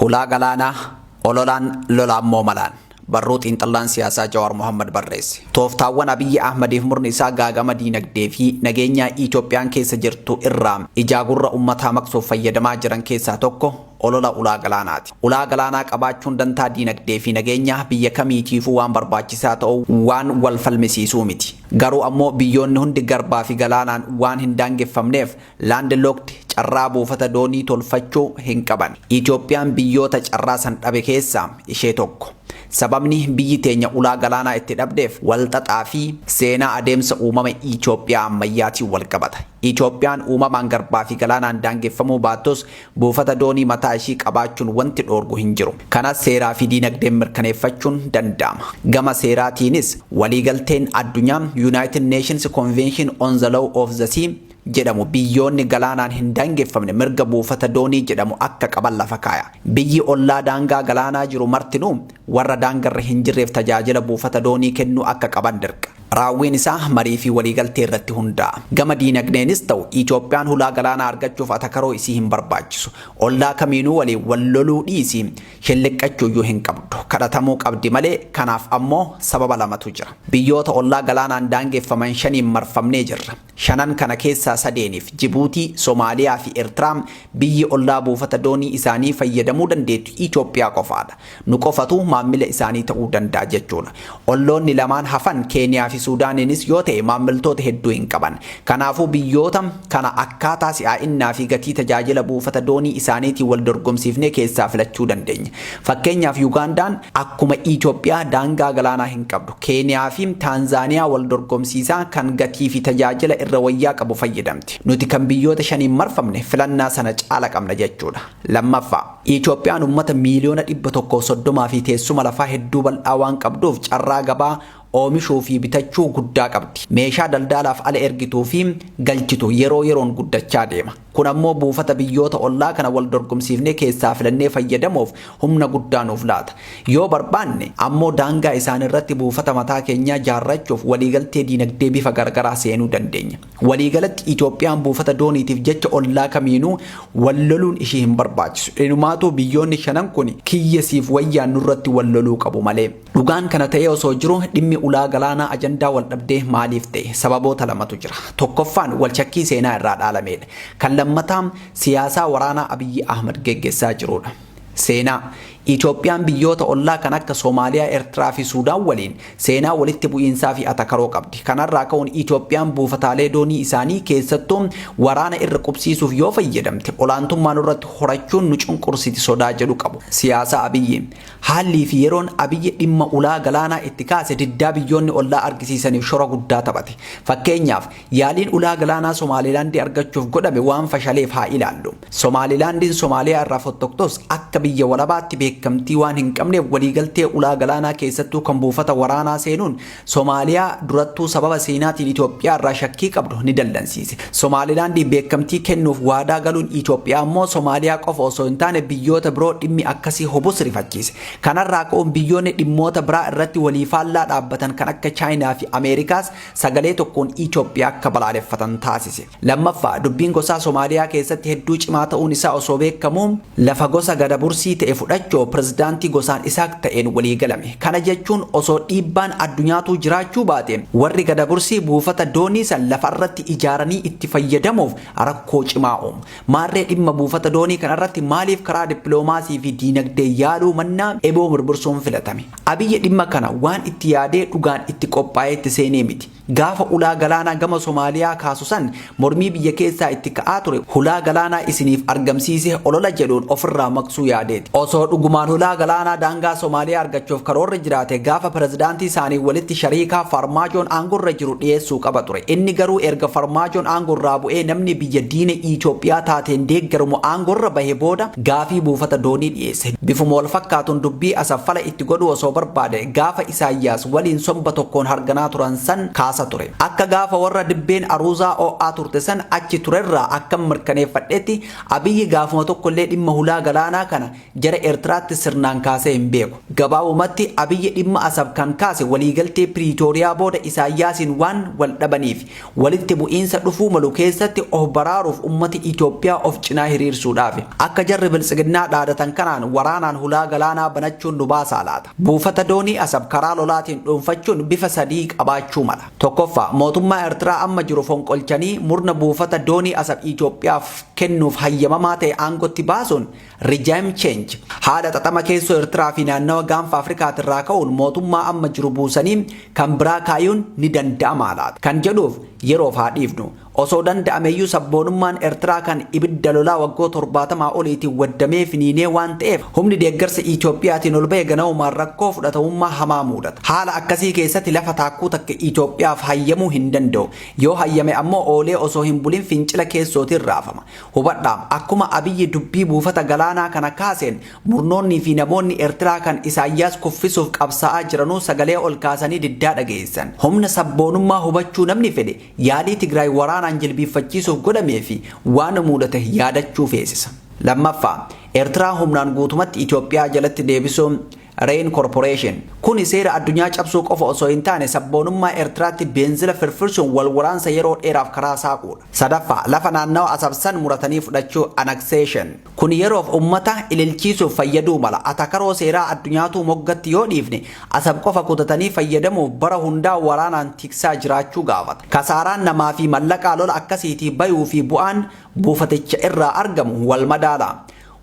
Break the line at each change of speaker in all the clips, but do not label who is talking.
Hulaa galaanaa, ololaan, lolaammoo malaan. Barruu xiinxallaan siyaasaa Jawaar Mohaammad barreesse. Tooftaawwan Abiyyi Ahmadiif murni isaa gaagama diinagdee fi nageenyaa Itoophiyaan keessa jirtu irraa ijaa gurra ummataa maqsuuf fayyadamaa jiran keessaa tokko olola ulaa galaanaati. Ulaa galaanaa qabaachuun dantaa diinagdee fi nageenyaa biyya kamiitiifuu waan barbaachisaa ta'uu waan wal falmisiisuu miti. Garuu ammoo biyyoonni hundi garbaa fi galaanaan waan hin daangeffamneef Land locked carraa buufata doonii tolfachuu hin qaban. Itoophiyaan biyyoota carraa san dhabe keessaa ishee tokko. Sababni biyyi teenya ulaa galaanaa itti dhabdeef wal xaxaa fi seenaa adeemsa uumama Itoophiyaa ammayyaatiin wal qabata. Itoophiyaan uumamaan garbaa fi galaanaan daangeffamuu baattus buufata doonii mataa ishii qabaachuun wanti dhoorgu hin jiru. Kana seeraa fi diinagdeen mirkaneeffachuun danda'ama. Gama seeraatiinis waliigalteen addunyaa United Nations Convention on the Law of the Sea jedhamu biyyoonni galaanaan hin daangeffamne mirga buufata doonii jedhamu akka qaban lafa kaaya. Biyyi ollaa daangaa galaanaa jiru martinuu warra daangarra hin jirreef tajaajila buufata doonii kennuu akka qaban dirqa. Raawwiin isaa marii fi waliigaltee irratti hundaa'a. Gama diinagdeenis ta'u Itoophiyaan hulaa galaanaa argachuuf atakaroo isii hin barbaachisu. Ollaa kamiinuu waliin wal loluu dhiisii shelliqqachuu iyyuu hin qabdu. Kadhatamuu qabdi malee kanaaf ammoo sababa lamatu jira. Biyyoota ollaa galaanaan daangeffaman shaniin marfamnee jirra. Shanan kana keessaa sadeeniif, Jibuutii, Somaaliyaa fi Ertiraa, biyyi ollaa buufata doonii isaanii fayyadamuu dandeettu Itoophiyaa qofaadha. Nu qofatu maammila isaanii ta'uu danda'a jechuudha. Olloonni lamaan hafan Keeniyaa fi Suudaaniinis yoo ta'e maammiltoota hedduu hin qaban. Kanaafuu biyyoota kana akkaataa si'aa'innaa fi gatii tajaajila buufata doonii isaaniitiin wal dorgomsiifnee keessaa filachuu dandeenya. Fakkeenyaaf Yugaandaan akkuma Itoophiyaa daangaa galaanaa hin qabdu. Keeniyaa fi Taanzaaniyaa wal dorgomsiisaa kan gatii fi tajaajila irra wayyaa qabu fayyadamti. Nuti kan biyyoota shaniin marfamne filannaa sana caala qabna jechuudha. Lammaffaa, Itoophiyaan uummata miiliyoona 130 fi teessuma lafaa hedduu bal'aa waan qabduuf carraa gabaa oomishuu fi bitachuu guddaa qabdi. Meeshaa daldaalaaf ala ergituu fi galchitu yeroo yeroon guddachaa deema. Kun ammoo buufata biyyoota ollaa kana wal dorgomsiifnee keessaa filannee fayyadamuuf humna guddaa nuuf laata. Yoo barbaanne ammoo daangaa isaaniirratti buufata mataa keenyaa jaarrachuuf waliigaltee diinagdee bifa garagaraa seenuu dandeenya. Waliigalatti Itoophiyaan buufata dooniitiif jecha ollaa kamiinuu wal loluun ishii hin barbaachisu. Inumaatuu biyyoonni shanan kun kiyya siif wayyaa nurratti wal loluu qabu malee. Dhugaan kana ta'ee osoo jiru dhimmi ulaa galaanaa ajandaa waldhabdee maaliif ta'e? Sababoota lamatu jira. Tokkoffaan walshakkii seenaa irraa dhaalameedha. Kan lammataa siyaasaa waraanaa Abiyyi Ahmad geggessaa jiruudha. Seenaa, Itoophiyaan biyyoota ollaa kan akka Somaaliyaa, Ertiraa fi Suudaan waliin seenaa walitti bu'iinsaa fi atakaroo qabdi. Kanarraa ka'uun Itoophiyaan buufataalee doonii isaanii keessattuu waraana irra qubsiisuuf yoo fayyadamte olaantummaa nurratti horachuun nu cunqursiti sodaa jedhu qabu. Siyaasaa Abiyyi, Haallii fi yeroon Abiy dhimma ulaa galaanaa itti kaase diddaa biyyoonni ollaa argisiisaniif shora guddaa taphate. Fakkeenyaaf, yaaliin ulaa galaanaa Somaalilaandii argachuuf godhame waan fashaleef haa ilaallu. Somaalilaandiin Somaaliyaa irraa fottoktos akka biyya walabaatti beekamtii waan hin qabneef waliigaltee ulaa galaanaa keessattuu kan buufata waraanaa seenuun Somaaliyaa durattuu sababa seenaatiin Itoophiyaa irraa shakkii qabdu ni dallansiise. Somaalilaandiif beekamtii kennuuf waadaa galuun Itoophiyaa immoo Somaaliyaa qofa osoo hin taane biyyoota biroo dhimmi akkasii hubus rifachiise. Kanarraa ka'uun biyyoonni dhimmoota biraa irratti walii faallaa dhaabbatan kan akka Chaayinaa fi Ameerikaas sagalee tokkoon Itoophiyaa akka balaaleffatan taasise. Lammaffaa, dubbiin gosaa Somaaliyaa keessatti hedduu cimaa ta'uun isaa osoo beekamuu, lafa gosa Gadabursii ta'e fudhachoo pirezidaantii gosaan Isaaq ta'een walii galame. Kana jechuun osoo dhiibbaan addunyaatuu jiraachuu baate, warri Gadabursii buufata doonii san lafa irratti ijaaranii itti fayyadamuuf rakkoo cimaa uumu. Maarree dhimma buufata doonii kana irratti maaliif karaa dippiloomaasii fi diinagdee yaaluu mannaa eboo mirmirsuun filatame? Abiy dhimma kana waan itti yaadee dhugaan itti qophaa'ee itti seenee miti. Gaafa ulaa galaanaa gama Somaaliyaa kaasu san mormii biyya keessaa itti ka'aa ture hulaa galaanaa isiniif argamsiise olola jedhuun ofirraa maqsuu yaadeeti. Osoo dhugumaan hulaa galaanaa daangaa Somaaliyaa argachuuf karoorri jiraate gaafa pirezidaantii isaanii walitti shariikaa Faarmaajoon aangorra jiru dhiyeessuu qaba ture. Inni garuu erga Farmaajoon aangorraa bu'ee namni biyya diina Itoophiyaa taateen deeggaramu aangorra bahe booda gaafii buufata doonii dhiyeesse. Bifuma wal fakkaatuun dubbii Asaffala itti godhuu osoo barbaade gaafa Isaayyaas waliin somba tokkoon harganaa turan san kaasa ture. Akka gaafa warra dibbeen aruuzaa oo'aa turte san achi turerraa akkan mirkaneeffadhetti Abiyyi gaafuma tokkollee dhimma hulaa galaanaa kana jara Eertiraatti sirnaan kaasee hin beeku. Gabaabumatti Abiyyi dhimma Asab kan kaase waliigaltee Piriitooriyaa booda Isaayyaasiin waan wal dhabaniifi. Walitti bu'iinsa dhufuu malu keessatti of baraaruuf ummati Itoophiyaa of cinaa hiriirsuudhaafi. Akka jarri Biltsiginnaa dhaadatan kanaan waraanaan hulaa galaanaa banachuun nu baasaa laata? Buufata doonii Asab karaa lolaatiin dhuunfachuun bifa sadii qabaachuu mala. Tokkoffaa, mootummaa Ertiraa amma jiru fonqolchanii murna buufata doonii Asab Itoophiyaaf kennuuf hayyamamaa ta'e aangotti baasuun Regime change haala xaxama keessoo Ertiraa fi naannawa gaanfa Afrikaatirraa ka'uun mootummaa amma jiru buusanii kan biraa kaayuun ni danda'amaa laata kan jedhuuf yeroof haa dhiifnu. Osoo danda'ameyyuu sabboonummaan Ertiraa kan ibidda lolaa waggoo torbaatamaa oliitiin waddamee finiinee waan ta'eef humni deeggarsa Itoophiyaatiin ol ba'e ganaumaan rakkoo fudhatamummaa hamaa muudata. Haala akkasii keessatti lafa taakkuu takka Itoophiyaaf hayyamuu hin danda'u. Yoo hayyame ammoo oolee osoo hin bulin fincila keessootiin raafama. Hubadhaa, akkuma Abiyyi dubbii buufata galaanaa kana kaaseen, murnoonnii fi namoonni Ertiraa kan Isaayyaas kuffisuuf qabsaa'aa jiranuu sagalee ol kaasanii diddaa dhageessisan. Humna sabboonummaa hubachuu namni fedhe, yaalii Tigraay waraanaan jilbiiffachiisuuf godhamee fi waan muudate yaadachuu feesisa. Lammaffaa, Ertiraa humnaan guutumatti Itoophiyaa jalatti deebisuun, Rain Corporation. Kuni seera addunyaa cabsuu qofa osoo hin taane sabboonummaa Ertiraatti beenzila firfirsuun wal waraansa yeroo dheeraaf karaa saaquudha. Sadaffaa, lafa naannawa Asab san muratanii fudhachuu, annexation. Kuni yeroof ummata ililchiisuuf fayyaduu mala. Atakaroo seeraa addunyaatuu moggatti yoo dhiifne, Asab qofa kutatanii fayyadamuuf bara hundaa waraanaan tiksaa jiraachuu gaafata. Kasaaraan namaa fi mallaqaa lola akkasiitii bayuu fi bu'aan buufaticha irraa argamu wal madaala.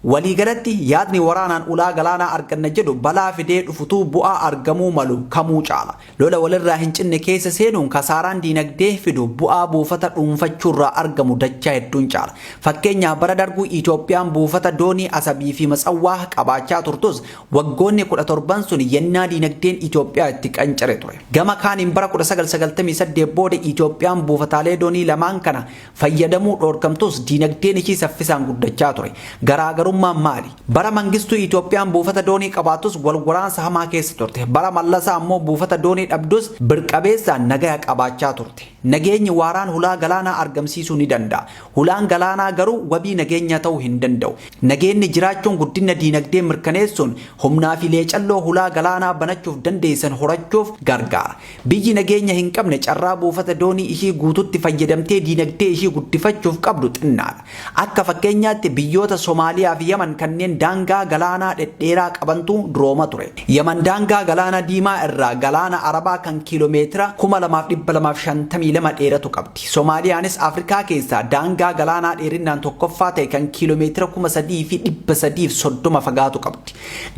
Waliigalatti, yaadni waraanaan ulaa galaanaa arganna jedhu balaa fidee dhufutuu bu'aa argamuu malu kamuu caala. Lola walirraa hin cinne keessa seenuun kasaaraan diinagdee fidu bu'aa buufata dhuunfachuurraa argamu dachaa hedduun caala. Fakkeenyaaf bara dargu Itoophiyaan buufata doonii Asabiifi Matsawwaa qabaachaa turtus waggoonni 17n sun yennaa diinagdeen Itoophiyaa itti qancare ture. Gama kaaniin bara 1998 booda Itoophiyaan buufataalee doonii lamaan kana fayyadamuu dhoorkamtus diinagdeen ishii saffisaan guddachaa ture. Garaagarummaan maali? Bara Mangistuu Itoophiyaan buufata doonii qabaattus wal waraansa hamaa keessa turte. Bara Mallasaa ammoo buufata doonii dhabdus birqabeessaan nagaya qabaachaa turte. Nageenyi waaraan hulaa galaanaa argamsiisuu ni danda'a. Hulaan galaanaa garuu wabii nageenyaa ta'uu hin danda'u. Nageenni jiraachuun guddinna diinagdee mirkaneessuun humnaa fi leecalloo hulaa galaanaa banachuuf dandeessan horachuuf gargaara. Biyyi nageenya hin qabne carraa buufata doonii ishii guututti fayyadamtee diinagdee ishii guddifachuuf qabdu xinnaadha. Akka fakkeenyaatti biyyoota Somaaliyaa fi Yaman kanneen daangaa galaanaa dhedheeraa qabantu durooma ture. Yaman daangaa Galaana Diimaa irraa Galaana Arabaa kan kiilomeetira 2,252 dheeratu qabdi. Somaaliyaanis Afrikaa keessaa daangaa galaanaa dheerinnaan tokkoffaa ta'e kan kiilomeetira 3,330 fagaatu qabdi.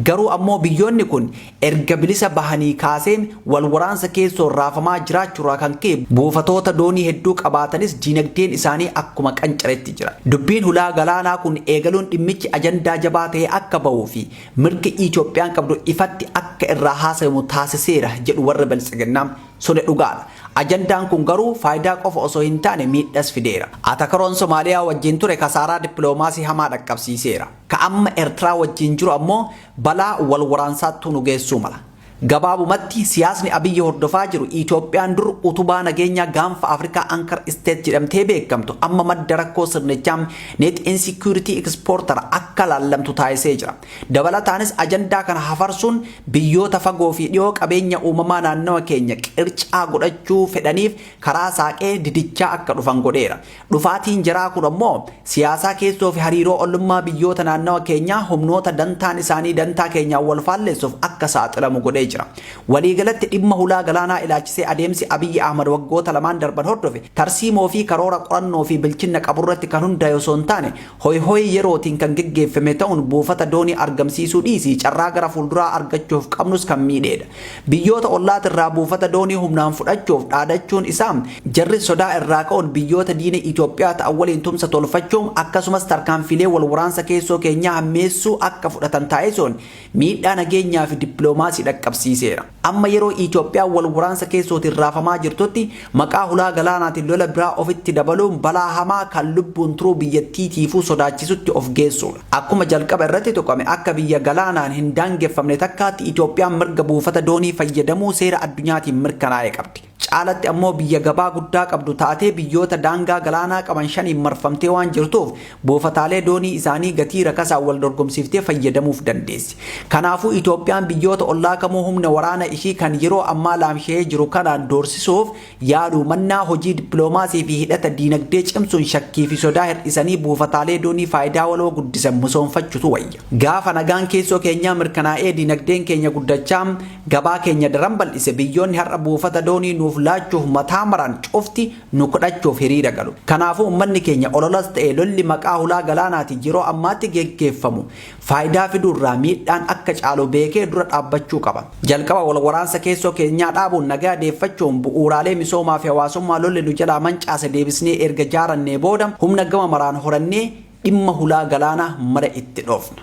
Garuu ammoo biyyoonni kun Erga bilisa bahanii kaasee wal waraansa keessoon raafamaa jiraachuurraa kan ka'e buufatoota doonii hedduu qabaatanis diinagdeen isaanii akkuma qancaretti jira. Dubbiin hulaa galaanaa kun eegaluun dhimmichi ajandaa jabaa ta'ee akka bahuu fi mirgi Itoophiyaan qabdu ifatti akka irraa haasayamu taasiseera jedhu warri Biltsiginnaa. Suni dhugaadha. Ajandaan kun garuu faayidaa qofa osoo hin taane miidhas fideera. Atakaroon Somaaliyaa wajjin ture kasaaraa dippiloomaasii hamaa dhaqqabsiiseera. Ka amma Ertiraa wajjiin jiru ammoo balaa wal waraansaattuu nu geessuu mala. Gabaabumatti, siyaasni Abiyyi hordofaa jiru Itoophiyaan dur utubaa nageenyaa Gaanfa Afrikaa Anchor State jedhamtee beekamtu amma madda rakkoo sirnichaa, Net Insecurity Exporter, akka laallamtu taasisee jira. Dabalataanis ajandaa kana hafarsuun biyyoota fagoo fi dhiyoo qabeenya uumamaa naannawa keenya qircaa godhachuu fedhaniif karaa saaqee didichaa akka dhufan godheera. Dhufaatiin jaraa kun ammoo siyaasaa keessoo fi hariiroo ollummaa biyyoota naannawa keenyaa humnoota dantaan isaanii dantaa keenyaan wal faalleessuuf akka saaxilamu godhee jira. Waliigalatti dhimma hulaa galaanaa ilaachisee adeemsi Abiyyi Ahmad waggoota lamaan darban hordofe tarsiimoo fi karoora qorannoo fi bilchinna qaburratti kan hundaa'e osoo hin taane hoyhoyii yerootiin kan geggeeffame ta'uun buufata doonii argamsiisuu dhiisii carraa gara fuulduraa argachuuf qabnus kan miidheedha. Biyyoota ollaatirraa buufata doonii humnaan fudhachuuf dhaadachuun isaa jarris sodaa irraa ka'uun biyyoota diina Itoophiyaa ta'an waliin tumsa tolfachuum akkasumas tarkaanfiilee wal waraansa keessoo keenyaa hammeessuu akka fudhatan taasisuun miidhaa nageenyaafi dippiloomaasii dhaqqabsiiseera. Amma yeroo Itoophiyaan wal waraansa keessootiin raafamaa jirtutti maqaa hulaa galaanaatiin lola biraa ofitti dabaluun balaa hamaa kan lubbuun turuu biyyattiitiifuu sodaachisutti of geessuudha. Akkuma jalqaba irratti tuqame akka biyya galaanaan hin daangeffamne takkaatti Itoophiyaan mirga buufata doonii fayyadamuu seera addunyaatiin mirkanaa'e qabdi. Caalatti ammoo biyya gabaa guddaa qabdu taatee biyyoota daangaa galaanaa qaban shaniin marfamtee waan jirtuuf buufataalee doonii isaanii gatii rakasaan wal dorgomsiiftee fayyadamuuf dandeessi. Kanaafuu Itoophiyaan biyyoota ollaa kamuu humna waraana ishii kan yeroo ammaa laamsha'ee jiru kanaan doorsisuuf yaaluu mannaa hojii dippiloomaasii fi hidhata diinagdee cimsuun shakkii fi sodaa hir'isanii buufataalee doonii faayidaa waloo guddisan musoomfachutu wayya. Gaafa nagaan keessoo keenyaa mirkanaa'ee diinagdeen keenya guddachaa Gabaa keenya daran bal'ise. Biyyoonni har'a buufata doonii nuuf laachuuf mataa maran cufti nu kdhachuuf hiriira galu. Kanaafuu uummanni keenya ololas ta'e lolli maqaa hulaa galaanaatiin yeroo ammaatti geggeeffamu faayidaa fiduurraa miidhaan akka caalu beekee dura dhaabbachuu qaba. Jalqaba wal waraansa keessoo keenyaa dhaabuun nagaa deeffachuun bu'uuraalee misoomaafi hawaasummaa lolli nu jalaa mancaase deebisnee erga jaarannee booda humna gama maraan horannee dhimma hulaa galaanaa mara itti dhoofna.